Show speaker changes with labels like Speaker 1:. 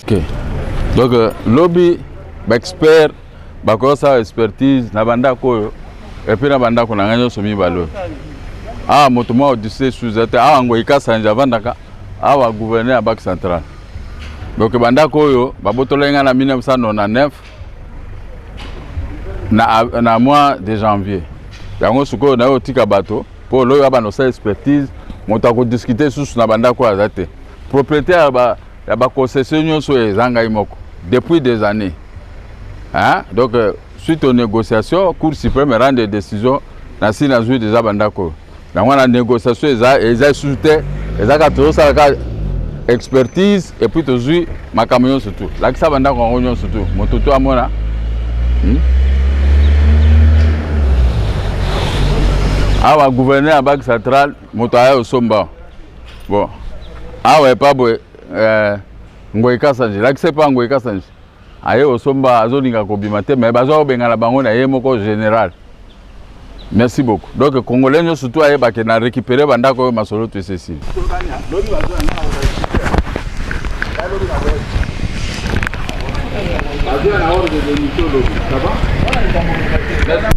Speaker 1: Okay. Donc euh, lobi baexpert bakosala expertise na bandako oyo epuis na bandako na ngai nyonso mibale oyo awa ah, moto mwa odise suza te awa ah, ngoi kasanje avandaka awa ah, gouverneur ya banque centrale Donc bandako oyo babotolaki ngai na 1999 na, na mois de janvier yango sikoyo nayo otika bato mpo loyo abanda osala expertise moto akodiskute lisusu na bandako oyo aza te propriété ya baconcession nyonso oyo eza ngai moko depuis des années hein? donc euh, suite aux négociations cour suprême erande décision nasi nazwi deja bandako oyo yango wana négociation eza eza lisusu te ezalaka tozosala ka expertise epuis tozwi makambo nyonso tu lakisa bandako yango nyonso tu moto to amona hmm? awa gouverneur ya banque centrale moto aya osomba bon awa epa boye eh, ngoyi kasanji lakisa epa ngoyi kasanji aye osomba azolinga kobima te mais baza kobengana bango na ye moko général merci beaucoup donc congolais nyo surtout ayebake na récupérer bandako oyo masolo to esesili Merci.